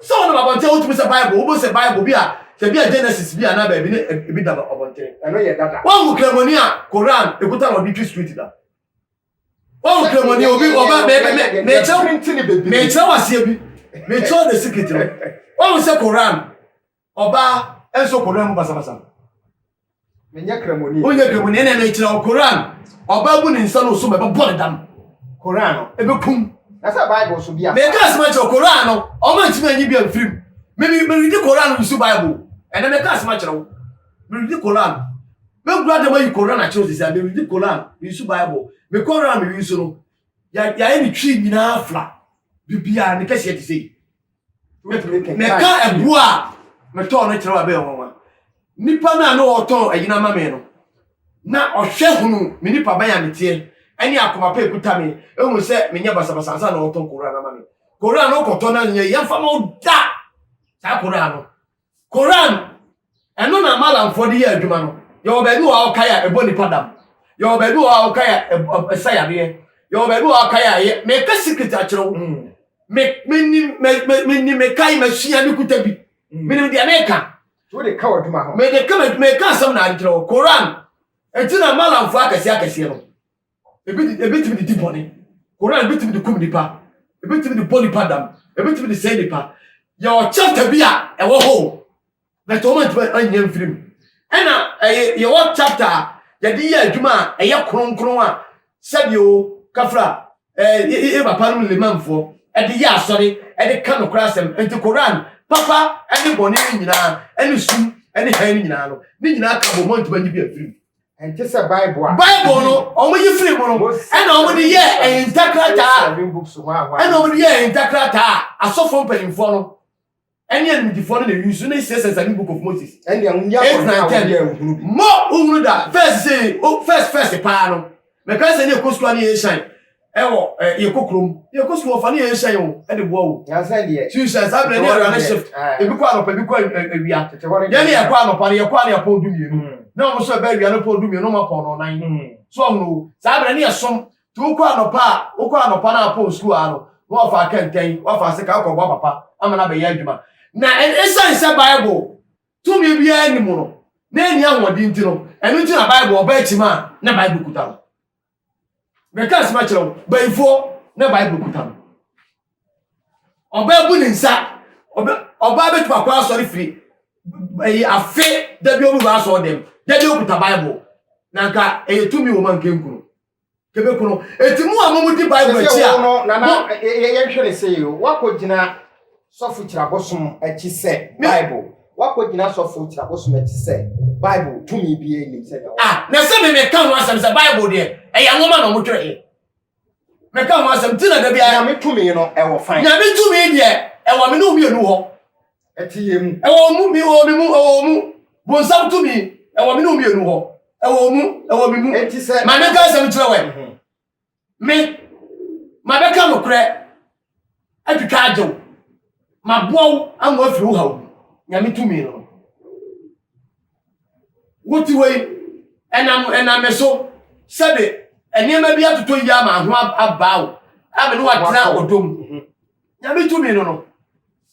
sɛ wonam abɔntene wotumi sɛ bible wobɔ sɛ bible bi a sɛ bi a genesis bi a na baabi ne ebi da abɔntene ɛno yɛ dada wɔn kramoni a koran ekuta na ɔde twi street da wọn kura mu ni obi ọba bẹẹbi mẹ mẹkyerẹ mẹkyerẹ waseɛ bi mẹkyerɛ ɔde sikiti no wọn sɛ koran ɔbaa nso koran mu basabasa menyɛ kramoni wonyɛ kramoni ɛna mɛkyerɛ wo koran ɔbaa bu ne nsa no so mɛbɛbɔ ne dam koran no ɛbɛkum na sɛ bible so bi a mɛka asɛm akyerɛ koran no ɔma ntumi anyi bi amfirim mede koran no nsu bible ɛna mɛka asɛm akyerɛ wo Meredi Koran. Mekura dɛm ayi Koran akyerɛw sisi a meredi Koran, mesu Bible. Me Koran a meresu no, yɛayɛ ne twi nyinaa fla. Biribiara ne kɛseɛ te sei. Mɛka ɛboɔ a metɔɔ no kyerɛw abɛn wɔn a. Nipa no a ne ɔtɔn ɛyina ama me no, na ɔhwɛ hunu me nipa bɛn a meteɛ ɛne akoma pa ekuta me, ehu sɛ menyɛ basabasa ansa na ɔtɔn Koran ama me. Koran no wokɔtɔ na nyɛ yɛmfa ma wo da saa Koran no. Koraa no, ɛno na Malamfoɔ de yɛ adwuma no. Yɛwɔ baabi wɔ hɔ a wɔkae a ɛbɔ nnipa dam. Yɛwɔ baabi wɔ hɔ a wɔkae a ɛsa yareɛ. Yɛwɔ baabi wɔ hɔ a wɔkae a ɛyɛ. Meka secret akyerɛ wo. Mm. Me menim me menim mekae masua me kuta bi. Mm. Menim deɛ meka. So de ka adwuma ho. Me de ka me meka asɛm na adekyerɛ wo. Koran. Enti na Malamfoɔ akɛseɛ akɛseɛ no. Ebi de ebetumi de di bɔne. Koran betumi de kum nipa. Ebetumi de bɔ nipa dam. Ebetumi de sɛe nipa. Yɛ ɔkyɛnta bi a ɛwɔ hɔ o. But wɔn antumi anyɛ mfiri mu. Ɛna ɛyɛ yɛwɔ chapter a yɛde yɛ adwuma a ɛyɛ kronkron a sɛdeɛ o kafra ɛɛ yɛ yɛ papa no limamfoɔ ɛde yɛ asɔre ɛde ka no koraa asɛm nti koran papa ɛne bɔne no nyinaa ɛne sum ɛne hɛn no nyinaa no ne nyinaa ka bɔ mɔntoma nyi bi afiri mu. ɛnte sɛ bible a bible no wɔn yi firi mu no ɛna wɔn de yɛ ɛyinta krataa ɛna wɔn de yɛ ɛyinta krataa asɔfo mpanyinfoɔ no ɛne animdifoɔ no na eyi so ne sɛ sɛ sani book of moses eight nine ten mɔ ohunu da first say first first paa no mɛka sɛ ne ekɔ sukuu ani yɛ shine. ɛwɔ ɛ yɛkɔ kurom yɛkɔ sukuu ɔfa ne yɛn hyɛ yɛn o de boa o sukuu hyɛ saa berɛ ne awura ne shift ebi kɔ anɔpa ebi kɔ awia yɛne yɛkɔ anɔpa no yɛkɔ a ne yɛpɔn du mmienu hmm. na wɔn nso ɛbɛ awia no pɔn du mmienu ma pɔn no nan hmm. so ɔhono o saa berɛ ne yɛsom nti wokɔ anɔpa a wokɔ anɔpa no apɔn sukuu a no na wafa akɛntɛn wafa ase ka akɔboa papa ama no abɛyɛ adwuma na ɛsiane sɛ bible tumi biara ni mu no na ɛni ahoɔden nti no ɛno nti na bible ɔba akyima a na bible kuta no Mɛka asɛm akyerɛ wo, bayifoɔ na Bible kuta no. Ɔbaa bu ne nsa, ɔbaa bɛtumi akɔ asɔre firi ɛyi afe dabi ɔmu ba asɔre dɛm, dabi ɔkuta Bible. Na nka ɛyɛ tumi wɔ ma nka nkunu. Kebe kono. Eti mu a mo mu di Bible akyi a. Mo na na yɛhwɛ ne sɛ yɛ. Wakɔ gyina Sɔfo Kyerɛ Abosom Akyi sɛ Bible. Woakogyina Sɔfo Kyerɛ Abosom Akyi sɛ Bible tumi biara nnim sɛnea wɔka. Ah, na sɛ me meka ho asɛm sɛ Bible deɛ ɛyɛ nwoma na wɔtwerɛeɛ. Meka ho asɛm ti na da biara. Nyame tumi no ɛwɔ fan. Nyame tumi deɛ ɛwɔ me ne wo mmienu hɔ. Ɛte yɛn mu. Ɛwɔ mu, me wɔ me mu, ɛwɔ mu. Bonsam tumi ɛwɔ me ne wo mmienu hɔ. Ɛwɔ mu, ɛwɔ me mu. Enti sɛ. Ma meka asɛm kyerɛ wɛ. Me, mabɛka nokorɛ atwitwa agye wo, maboa wo ama woafiri wo haw mu, Nyame tumi no. Wote hɔ yi, ɛnam, ɛnam me so, sɛbe nneɛma bi atotɔ yie ama ho abaa wo, a me ne wo atena ɔdɔ mu. Mhm. Nyame tumi no no,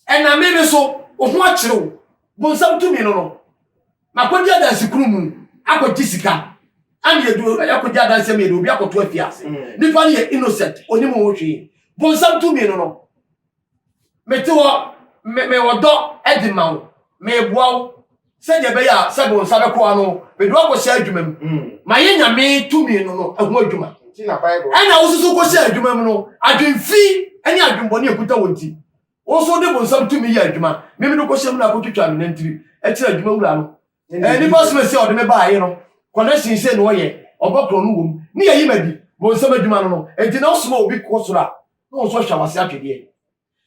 ɛnam me me so, wo ho akyere wo, bonsam tumi no no. Makɔdi adanse kunu mu akɔgye sika ɛna yɛdu ɛkɔgye adanse mu yɛde obi akɔto afi ase mm. nipa no yɛ innocent onim ho hwee bonsam tu mmienu no mete hɔ mewɔ dɔ ɛde ma wo meboa wo sɛdeɛ ɛbɛyɛ a sɛ bonsa bɛkɔ ano mede wakɔhyɛ adwuma mu mm. mayɛ nyame tu mmienu no ɛho adwuma ɛna wososo kɔhyɛ adwuma mu no adwemfi ne adwembɔne ɛkuta wɔ nti Wo nso wode bonsam tumi yɛ adwuma. Meme no kɔhyɛ mu na akɔtwitwa me nantiri kyerɛ adwuma wura no. Ɛɛ nipa soma sɛ ɔde me baa ye no. Connection sei na ɔyɛ, ɔbɔ korɔ no wom. Ne yɛyi ma di, bonsam adwuma no no. Enti na wosoma obi kɔ soro a, na wɔn nso ahwa wase atwedeɛ.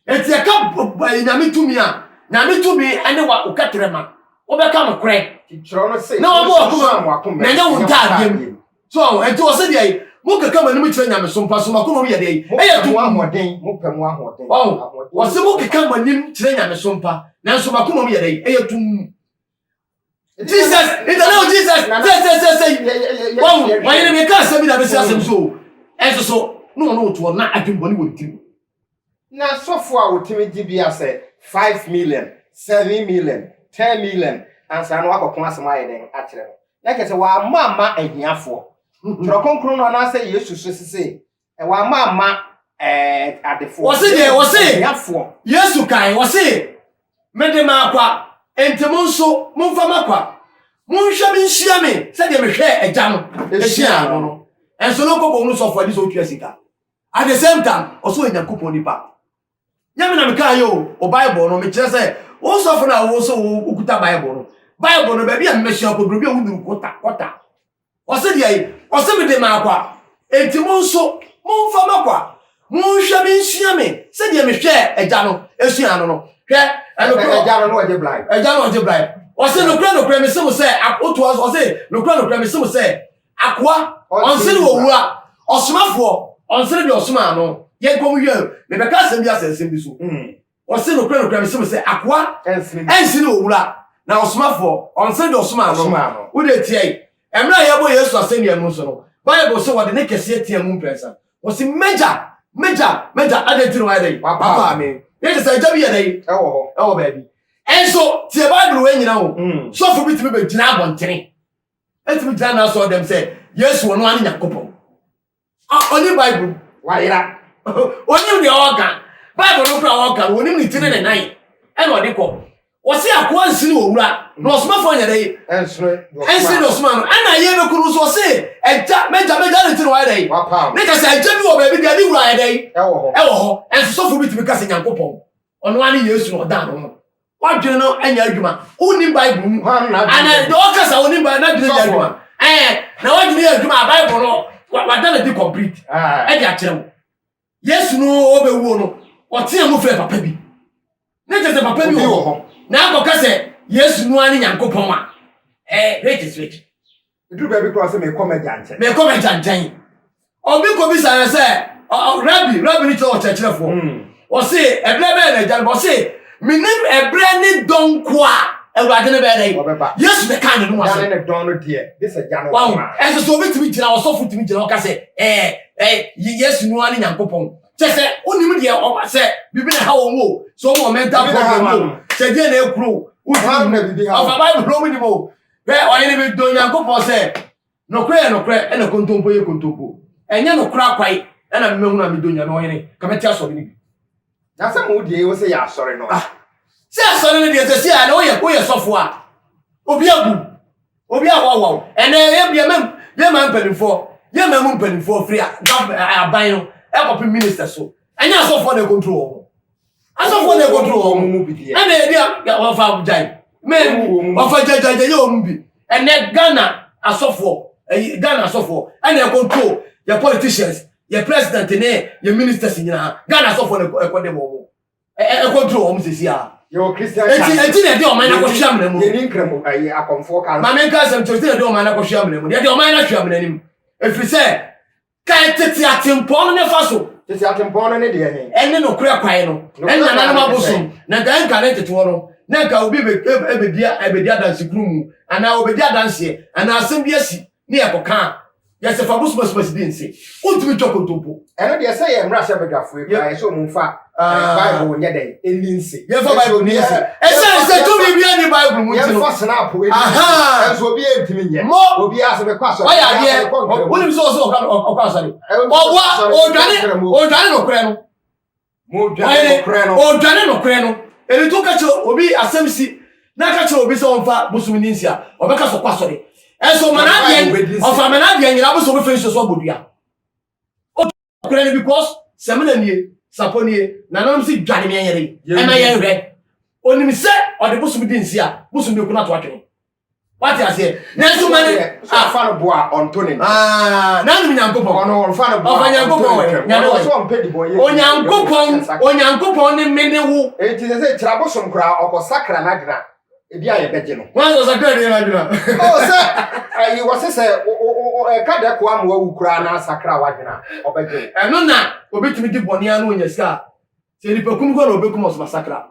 Enti yɛka Nyame tumi a, Nyame tumi ne wa wo kɛterɛma. Wobɛka nokorɛ na wabɔ wakoma mu na ɛnyɛ wo ntaadeɛ mu. So aho ɛnti wɔ sɛ deɛ yi mo keka mo anim kyerɛ nyamesom pa so mo akoma mu yɛ deɛ yi ɛyɛ dum ahoɔden mo pɛ mo ahoɔden wɔn wɔ sɛ mo keka mo anim kyerɛ nyamesom pa nanso mo akoma mu yɛ deɛ yi ɛyɛ dum Jesus ìtẹ̀lẹ́ o Jesus sẹ́sẹ́sẹ́sẹ́ wọ́n wọ́n yẹn mi ká asẹ́mi náà bẹ́sẹ̀ asẹ́mi so ẹ̀sọ́ so ní wọn ò tó wọn náà adwumbọ̀ ní wọn ti mu. Na sɔfo a otumi gye bi a sɛ five million, seven million, ten million ansa na wakɔko asɛm ayɛ dɛn akyerɛ no? Na kyerɛ sɛ wamma amma ahiafoɔ. Twerɛ Kronkron no anaasɛ Yesu so sese wamma amma eh, adefoɔ. Wɔse deɛ, wɔse, ahiafoɔ. Yesu kae, wɔse, Mede m'akwa, enti mo nso momfa m'akwa. Monhwɛ me nhyia me sɛdeɛ mehwɛɛ Agya no hyiaa no no. Ɛnso no kɔkɔɔ mu sɔfo ani sɛ ɔtua sika. At the same time, ɔsɛ ɔyɛ Nyankopɔn nipa. Nyɛ me na mekaa yɛ o, o Bible no, mekyerɛ sɛ, wo sɔfo no a wo sɛ wokuta Bible no, Bible no, baabi a mmɛhyia kɔduru bi a woduru kɔta, kɔta. Ɔsɛ deɛ yi, ɔsɛ mede maa kwa. Enti mo nso, momfa ma kwa. Monhwɛ me nsua me sɛdeɛ mehwɛɛ agya no, esuaa no no. Hwɛ, ɛnokorɔ. Agya no na ɔgye bribe. Agya no ɔgye bribe. Ɔsɛ nokorɛ nokorɛ mese mo sɛ, wotoa so, ɔsɛ nokorɛ nokorɛ mese mo sɛ, Akoa, ɔnsene wɔ owura, ɔsomafoɔ, ɔnsene deɛ ɔsomaa no. Yɛnkɔ mu yɛ, mebɛka asɛm bi asɛ nsɛm bi so. Hmm. Ɔse nokorɛ nokorɛ mese mo sɛ akoa ɛnsene wɔ wura na ɔsomafoɔ ɔnsene deɛ ɔsomaa no. Wode tia yi. Ɛmmerɛ a yɛbɔ Yesu asɛnnua mu nso no, Bible se wɔde ne kɛseɛ tea mu mprɛnsa. Wɔse M'agya, m'agya, m'agya, adɛn nti na wɔayɛ dɛn? Wapaa me. Ne te sɛ agya bi yɛ dɛn? Ɛwɔ hɔ. Ɛwɔ baabi. Ɛnso tie Bible wei nyina o. Hmm. Sɔfo bi tumi bɛgyina abɔntene. ɛtumi gyina n'asɔre dɛm sɛ yesu ɔno ane nyankopɔn ɔne bible wayera onim deɛ ɔka bible no kora ɔka no onim ne ti ne ne nan ɛna ɔde kɔ wɔse akoa nsini owura na ɔsomafoɔ nyɛ dɛ ɛnsene ɔsoma no ɛna yɛ bɛku no so ɔse agya magya magya ne ti no wayɛ dɛ ne ka sɛ agya bi wɔ baabi deɛ ne wura yɛ dɛ ɛwɔ hɔ ɛnsosɔfoɔ bi tumi ka sɛ nyankopɔn ɔno ane yesu na ɔda no ho W'adwene no nyɛ adwuma. Wonnim Bible mu. Hwan na adwene yɛ adwuma? Deɛ ɔkasa wonnim Bible n'adwene yɛ adwuma. Ɛɛ na w'adwene yɛ adwuma a Bible no wada no di complete ɛde akyerɛ wo. Yesu no ɔbɛwuo no ɔtea mu frɛ papa bi. Ne kyɛ sɛ papa bi wɔ hɔ na akɔka sɛ Yesu no ara ne Nyankopɔn a, ɛɛ which is which? Ɛduru baabi koraa sɛ mekɔ m'agya nkyɛn. Mekɔ m'agya nkyɛn. Obi kɔbisa no sɛ, rabi, rabi no kyerɛ ɔkyerɛkyerɛfoɔ. Ɔse, hmm. ɛberɛ bɛyɛ na agya no bɔ? Ɔse, menim ɛberɛ ne dɔn ko a awurade no bɛyɛ dɛ yesu ne kaa ne no ase ne dɔn no deɛ de sɛ gya no wawo ɛsɛ sɛ obi tumi gyina ɔsɔfo tumi gyina ɔka sɛ ɛɛ ɛɛ yesu no ara ne nyankopɔn kyɛ sɛ wonim deɛ ɔma sɛ biribi na ha wɔn o sɛ ɔma ɔmɛnta problem o sɛ deɛ na ekuro wotumi ɔfa bible na ɔmo nim o Hwɛ, ɔhene bi dɔ Nyankopɔn sɛ, Nokorɛ yɛ nokorɛ, ɛna kontompo yɛ kontompo. Ɛnyɛ nokorɛ akwae, ɛna memahunu a medɔ Nyame, ɔhene, ka mɛte asɔre no bi. Na sɛ mo deɛ ɛwɔ sɛ yɛ asɔre no a. Ah, sɛ asɔre no deɛ, sɛsi a, ɛnɛ woyɛ, woyɛ sɔfo a, obi abu wo, obi awawa wo, ɛnɛ yɛ, yɛ mɛm, yɛ mɛm mpanimfoɔ, yɛ mɛm mpanimfoɔ firi a, government, aban no, ɛkɔpem minister so, ɛnyɛ asɔfoɔ na ɛkontrol wɔn. asɔfoɔ na ɛkɔduru wɔn mu bi deɛ ɛna ebi a wɔfa gyae mɛn wɔfa gyagyagyɛ yɛ wɔn bi ɛnɛ ghana asɔfoɔ ɛyi ghana asɔfoɔ ɛna ɛkɔduru yɛ politicians yɛ president ne yɛ ministers nyinaa ghana asɔfoɔ na ɛkɔde wɔn mu ɛkɔduru wɔn mu sisi a. yɛwɔ christian church ɛti ɛti na ɛde ɔman na kɔhwɛ amena mu yɛni nkramu ɛyɛ akɔnfoɔ kan maame nka asɛm kyerɛ ɛti na ɛde ɔman na kɔhwɛ amena mu ɛde ɔman na hwɛ amena mu efiri sɛ Kae tete atempɔn no ne fa so. Tete atempɔn no ne deɛ he? Ɛne nokorɛ kwan no. Nokorɛ Ɛnyɛ kwan no nananom ne sɛ. abosom. Na nka ɛnka ne nteteeɛ no, na nka obi bɛ- ɛb- ɛbɛdi a- ɛbɛdi adanse kunu mu, anaa ɔbɛdi adanseɛ, anaa asɛm bi asi, ne yɛkɔka a, yɛse fa bo sumasuma si bi nse. Wontumi ntwa kontompo. Ɛno deɛ, sɛ yɛn mmarahyɛbadwafoɔ yi koraa, yɛse wɔn mfa. Ah. bible nyɛ dɛn ɛni nse yɛmfa bible ni nse ɛsiane sɛ tumi bia ne bible mu nti no senaapo ɛnso obi ɛntumi nyɛ obi asɛ mekɔ asɔre ɔyɛ adeɛ wonim sɛ ɔsɛ ɔkɔ asɔre ɔboa ɔdwane ɔdwane nokorɛ no ɔdwane nokorɛ no ɛni to ka kyerɛ obi asɛm si na ka kyerɛ obi sɛ ɔmfa bosom ni nsi a ɔbɛka sɛ ɔkɔ asɔre ɛnso ɔmanadeɛ ɔfa manadeɛ nyina bo sɛ ɔbɛfɛ nsuo so abɔdua Ɔkura no because Samina nie, Sapɔ nie, nananom si dwane me yɛre ɛna yɛn hwɛ. Onim sɛ ɔde bosom di nsi a bosom bi kuna to atwene. Wate aseɛ. Nanso ma ne ah. Ɔfa no boa ɔnto ne ntɛm. Ah, n'anom Nyankopɔn. Ɔno ɔfa no boa. Ɔfa Nyankopɔn wɛ. Nyame wɔ so ɔmpɛ dibɔ yɛ. Onyankopɔn, Onyankopɔn ne me ne wo. Enti sɛ sɛ kyerɛ bosom koraa ɔkɔ sakra n'adwena. ebi a yɛbɛgye no. wọn sɛ sɛ kra deɛ n'adwena. o sɛ ayi wɔ sɛ sɛ ɛka dɛ koa ma wawu koraa na asakra w'adwena ɔbɛgye. ɛno na obetumi di bɔne ano onya sika a sɛ nipa kum kɔ na obekum ɔsoma sakra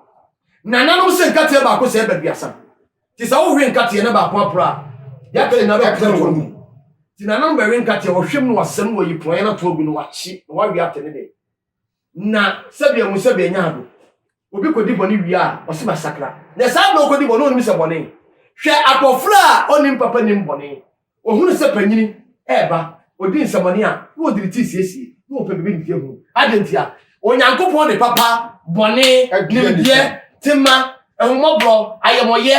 nananom sɛ nkateɛ baako sɛ ɛbɛ duasa te sɛ wohwe nkateɛ na baako apora a yɛaka nyinaa bɛkɔsɛ toɔ mu ti nananom bɛwe nkateɛ wɔhwɛm no wasɛm no wayi pɔn na toɔ gu no wakye na wawe atɛ ne dɛ Na sɛdeɛ mu sɛdeɛ nya ado. Obi kɔdi bɔne wie a, ɔse masakra. Na saa berɛ ɔkɔdi bɔne ɔnim sɛ bɔne. Hwɛ akɔfra a ɔnim papa nim bɔne. Ɔhunu sɛ panyini reba, ɔdi nsɛmɔne a, na ɔde ne ti siesie, na ɔpɛ baabi nteɛ hunu. Adɛn ntia? Onyankopɔn de papa, bɔne, nimdeɛ, tema, ahummɔborɔ, ayamɔyɛ,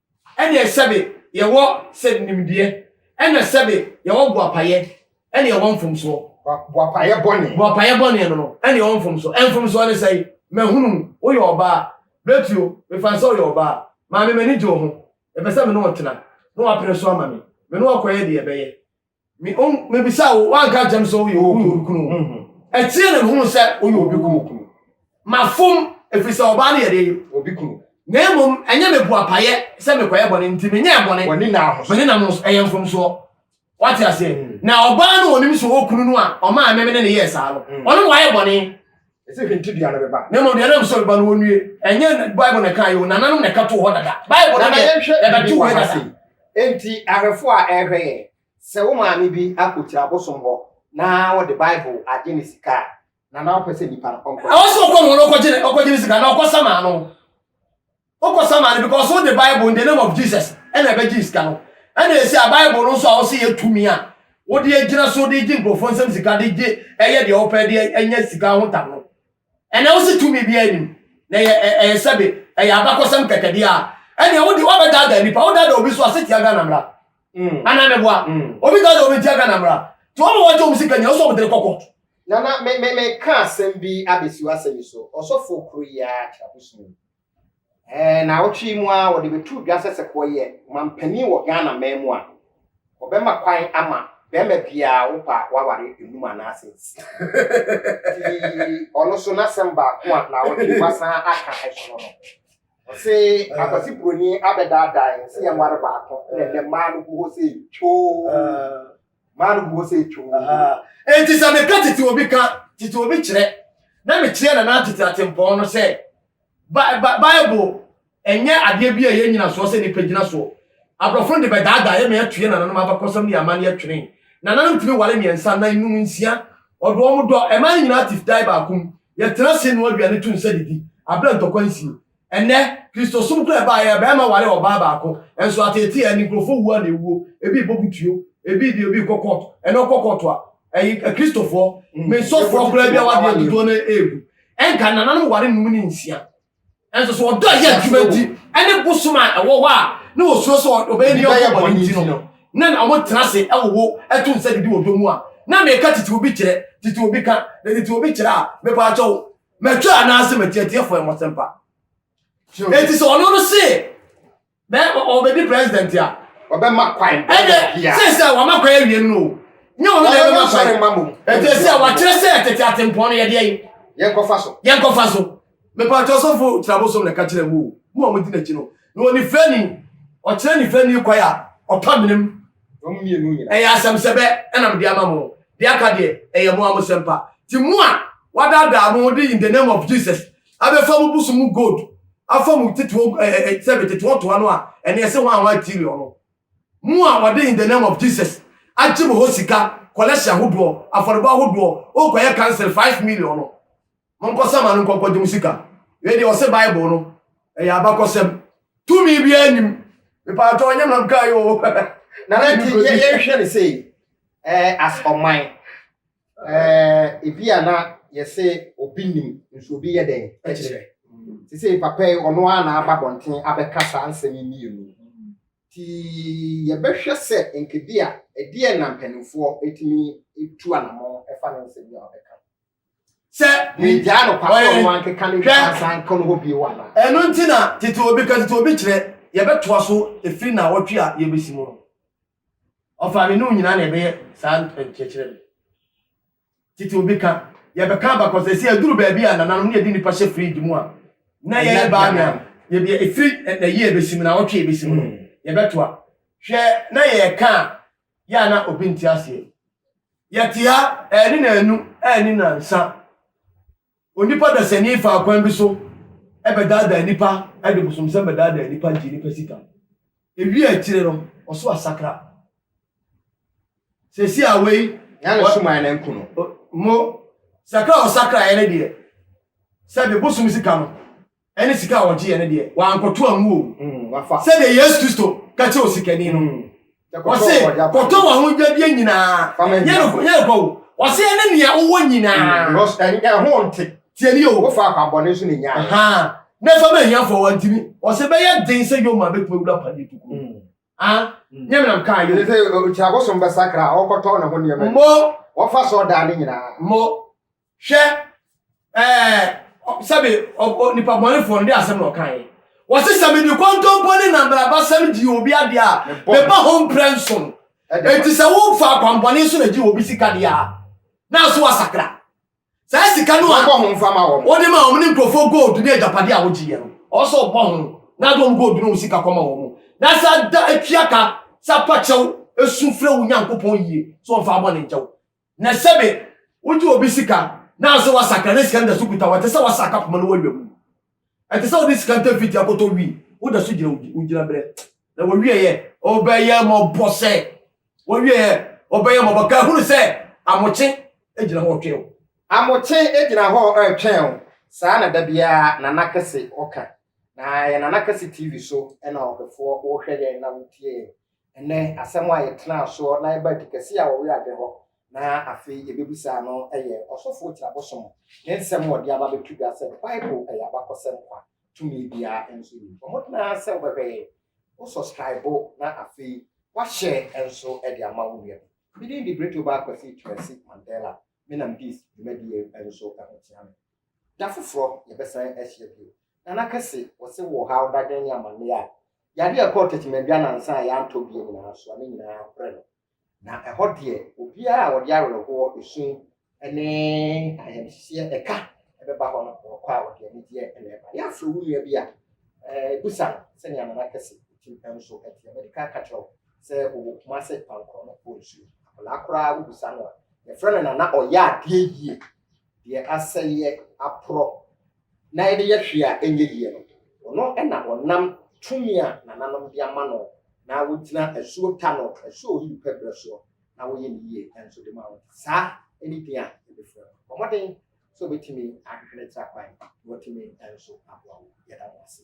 ɛneɛ sɛbe yɛwɔ sɛ nimdeɛ, ɛna sɛbe yɛwɔ boapayɛ, ɛne yɛwɔ mfomsoɔ. Boapayɛ bɔne. Boapayɛ bɔne no no, ɛne yɛwɔ mfomsoɔ. Ɛmfomsoɔ ne sɛe? Mahunu wo, woyɛ ɔbaa. Bɛtuo, mefaa sɛ woyɛ ɔbaa. Maame, m'ani gye wo ho. Mepɛ sɛ me ne wo tena. Na wapene so ama me. Me ne wo akɔyɛ deɛ ɛbɛyɛ. Me o me bisa wo wa nka jam so yo obi obi kunu. Ɛteɛ na mehunu sɛ woyɛ obi kunu. Mafom ɛfiri sɛ ɔbaa no yɛ dee obi kunu. Na mmom ɛnyɛ me boa payɛ sɛ mekɔyɛ bɔne nti me nyɛɛ bɔne. Wɔne na ahosoɔ. Wɔne na ahosoɔ ɛyɛ mfomsoɔ. Wate aseɛ? Na ɔbaa no onim sɛ ɔwɔ kunu no a ɔmaa me me ne ne yɛɛ saa no. Ɔno na wayɛ bɔne. Ɛsɛ hwɛ nti dua no bɛba. Na mmom dua no a ɛwɔ sɛ ɔbɛba no wɔnnue. Ɛnyɛ Bible na ɛkaeɛ o, nananom na ɛka too hɔ dada. Bible no deɛ, ɛbɛtoo hɔ dada. Enti ahwɛfoɔ a ɛrehwɛ yɛn, sɛ wo maame bi akɔkyiri abosom hɔ na ɔde Bible agye ne sika a, nana wopɛ sɛ nipa no ɔnkɔ? Ɛwɔ sɛ ɔkɔ ne ho na ɔkɔgye ne sika anaa ɔkɔsam ano? Wokɔ sama no because wode bible in the name of Jesus ɛna ɛbɛgye sika no ɛna ɛsi a bible no nso a wose yɛ tumi a wode agyina so de gye nkurɔfoɔ nsɛm sika de gye ɛyɛ deɛ wopɛ de ɛnyɛ sika ho tam no ɛnɛ wose tumi biara nim na ɛyɛ sɛbe ɛyɛ abakɔsɛm kɛkɛdeɛ a ɛneɛ wode wabɛdaadaa nnipa wodaadaa obi so ase tia Ghana mmara mm. anaa meboa mm. obi daadaa obi tia Ghana mmara nti wɔma wɔgye wɔm sika nyina wo sɛ wɔmdere kɔ kɔɔto na na me me me ka asɛm bi abɛsi w'asɛm so ɔsɔfoɔ kuro yi a kyerɛbosom Ɛɛ, naawɔtwe yi mu ara wɔde bɛtoo dwa sɛ sɛ wɔyɛ manpanin wɔ Ghana man mu a, wɔbɛma kwan ama barima biara a wopa a waware nnum anaasɛ nsia. Nti ɔno nso n'asɛm baako a naawɔtwe yi wasan aka so no no, ɔse Akwasi Buroni abɛdaadaa yɛn sɛ yɛnware baako na ɛnnɛ mmaa no gu hɔ sɛ twoo. maa no gu hɔ sɛ etwo. Enti sɛ meka tete obi ka tete obi kyerɛ na mekyerɛ nana tete atempɔn no sɛ Bible ɛnyɛ adeɛ bi a ɛyɛ nyinasoɔ sɛ nipa gyina soɔ. Aborɔfo no de bɛdaadaa yɛ ma yɛatue nananom abakɔsɛm ne amanneɛ atwene. Nananom tumi ware mmiɛnsa, nan, num, nsia. Ɔde wɔn dɔ, ɛma yɛn nyinaa te dae baako mu. Yɛtena ase noa aduane to nsa didi, abrɛ ntɔkwa nsie. Ɛnnɛ, Kristosom kura ɛbaa yɛ, barima ware ɔbaa baako, nso ateetee a ɛne nkurɔfoɔ wuo a na ɛwuo, ebi bɔ butuo, ebi deɛ obi kɔ kɔɔto, ɛnna ɔkɔ kɔɔto a, ɛyi Akristofoɔ, me sɔfoɔ koraa bi awadeɛ dodoɔ no ara regu. Ɛnka nananom ware nnum ne nsia. Nanso sɛ ɔdɔ a ɛyɛ adwuma nti ne bosom a ɛwɔ hɔ a na wɔsuro sɛ ɔbɛyɛ ne yɔnko bɔne nti no na na wɔtena ase wowo to nsa didi wɔ dɔ mu a, na meka tete obi kyerɛ, tete obi ka, na tete obi kyerɛ a, mepaakyɛw, Matwa anaase matiatiafo ɛmo sempa. Eti sɛ ɔno no se bɛ ɔbɛdi president a. Ɔbɛma kwan. Ɛdɛ sɛ sɛ wama kwan awie no o. Nyɛ ɔno na ɛbɛma kwan. Eti sɛ wakyerɛ sɛ tete atempɔn no yɛdeɛ yi. Yɛnkɔfa so. Yɛnkɔfa so. Mepatɔ sɔfo tirabosom na ɛka kyerɛ mu o. Mo a modi n'akyi no. Na ɔnifirani ɔkyerɛ nifirani kwan a ɔpɛ menem. Wɔn mmienu nyinaa. Ɛyɛ asɛmsɛbɛ ɛna mede ama mo. Deɛ aka deɛ, ɛyɛ mo ara mo sɛmpa. Ti mo a wadaadaa mo de in the name of Jesus abɛfa mo busu mu gold afa mo tetoɔ eh, eh, eh, sɛbe tetoɔ toa no a ɛne ɛse hwan hwan tiriɔ no. Mo a wɔde in the name of Jesus agye mo hɔ sika kɔlɛhye ahodoɔ afɔrebɔ ahodoɔ ɔkɔyɛ cancel 5 million no. Monkɔsama no nkɔnkɔgye mo sika. Wei deɛ ɔse bible no ɛyɛ abakɔsɛm. Tumi biara nnim. Mepaatɔ nyɛ nam kaa yɛ o. Nana nti yɛhwɛ ne sei eh, as ɔman eh, ebi a na yɛse obi nim nso obi yɛ dɛn ɛkyerɛ te sɛ papa yi ɔno ara na aba bɔnten abɛka saa nsɛm yi mmienu ti yɛbɛhwɛ sɛ nkebi a ɛdeɛ na mpanimfoɔ ɛtumi tu anamɔ ɛfa ne nsɛm yi a ɔbɛka sɛ megyaa no kwa sɛ ɔno ankeka ne nsa nka no hɔ bio wɔ anaa ɛno nti na tete obi ka tete obi kyerɛ yɛbɛtoa so ɛfiri na wɔtwe a yɛbɛsi mu no ɔfa me ne nyinaa na ɛbɛyɛ saa nkyerɛkyerɛ no tete obi ka yɛbɛka abakɔsɛ sɛ aduru baabi a nananom ne yɛde nnipa hyɛ fridge mu a na yɛyɛ baa me a yɛbi ɛfiri na yie bɛsi mu na wɔtwe yɛbɛsi mu no hmm. yɛbɛtoa hwɛ na yɛka a yɛ a na obi nte aseɛ. Yɛte ha ɛne naanu ɛne nansa. Onipa dasani faa kwan bi so ɛbɛdaadaa nipa ɛde bosomsɛm bɛdaadaa nipa gye nipa sika. Ewie akyire no ɔso asakra. Sɛsi a wei. Yɛn so maa ne nko no. Mo sakra ɔsakra yɛn deɛ sɛbi bosom sika no. ɛne sika a ɔgyeeɛ no deɛ, wankɔto angu o, mm, sɛdeɛ Yesu Kristo ka kyerɛ osikani no. Mm. Ɔse, kɔtɔ w'ahodwadeɛ nyinaa, yɛ nkɔ o. Ɔse, ɛne nea wowɔ nyinaa. Mm, ɛho nte. Tie ni o. Wofa akwammɔne nso ne nyaa. Ha, na fa ma ahiafoɔ wantimi. Ɔse, bɛyɛ den sɛ Yoma bɛtumi awura padeɛ tuku. Mm. Ah, mm. nyɛ menam kaa yɛ. Sɛ ɔkyira bosom bɛsakra, ɔkɔtɔ ne ho nneɛma. Mmɔ. Wɔfa sɔɔ daa ne nyinaa. Mmɔ. hwɛ ɛɛ sɛbi ɔbɔ nipa bɔnefo no de asɛm na ɔka yi wɔsi sɛ mi di kɔntɔnpɔ ne nambrabasɛm di obi adi a meba ho mprɛ nson eti sɛ wofa akwampɔne nso na gye obi sika di a n'aso asakra saa sika no a wɔbɔ ho nfa ma wɔn wɔde ma wɔn ne nkurɔfoɔ gold ne agyapade a wɔgye yɛ no ɔsɔ ɔbɔ ho na de wɔn gold ne wɔn sika kɔma wɔn na sɛ da etua ka sɛ apakyɛw esu frɛ wo nyankopɔn yie so wɔn fa abɔ ne nkyɛw Na sɛbe wogye obi sika naaso wɔasakra ne sika no da so kuta hɔ, ɛtse sɛ wɔasaka poma no wɔ ewia mu. Ɛtse sɛ wɔdze sika ntɛm fitsi akɔtɔ wi, woda so gyina wo gyinaberɛ. Na wɔwieɛ, wɔbɛyɛ mmɔbɔ sɛ wɔwieɛ, wɔbɛyɛ mmɔbɔ ka hunu sɛ amokye gyina hɔ retwɛn wo. Amokye gyina hɔ retwɛn wo, saa na da biara Nana Kɛse ɔka. Na yɛ Nana Kɛse TV so na ɔdɔfoɔ wohwɛ yɛn na wotie yɛn. Ɛnnɛ, asɛm a yɛtenaa so na yɛbaa adi kɛse a ɔwea adɛ hɔ na afei yebebisaa no yɛ Ɔsɔfo Otia Bosom ne nsɛm a ɔde aba beto dwa sɛ Bible yɛ abakɔsɛm kwa, tumi biara nso nnim hɔ. Mmɔden ara sɛ wobɛhwɛ yɛn, wo sɔskraibo na afei woahyɛ nso de ama wo nua bi. Me din de Bretobaa Kwasi Twumasi Mandela. Menam Dis dwumadi yi nso ho tea me. Da foforɔ yɛbɛsan ahyia bio. Nana Kɛse, wɔse wo ɔhaw, dadwen ne amanneɛ a Yɛade a ɛkɔɔ Tetemandua nnansa a yɛantɔ bie nyinaa so a ne nyinaa brɛ no. Na ɛhɔ deɛ, obiara a ɔde awerɛhoɔ, esu, ne ayamhyehyeɛ ka bɛba hɔ no, wɔkɔ a wɔde anigyeɛ na ɛba. Yɛafrɛ wo nua bi a, bisa no sɛnea Nana Kɛse tim nso teɛ. Madi kan aka kyerɛ wo sɛ ɔwɔ Kumase Pankoro no wɔ nsuo. Akwadaa koraa wobisa no a, yɛfrɛ no Nana Ɔyɛ adeɛ yie. Deɛ asɛeɛ aporɔ na yɛde yɛ hwee a ɛnyɛ yie no, ɔno na ɔnam tumi a nananom de ama no na wogyina asuo ta no, asuo a oyi pɛ berɛ soɔ na woyɛ no yie nso de ma wo. Saa ne din a yɛbɛfrɛ no. Bɔ mmɔden sɛ wobɛtumi ahwehwɛ no akyiri akwan na watumi nso aboa wo. Yɛda mo ase.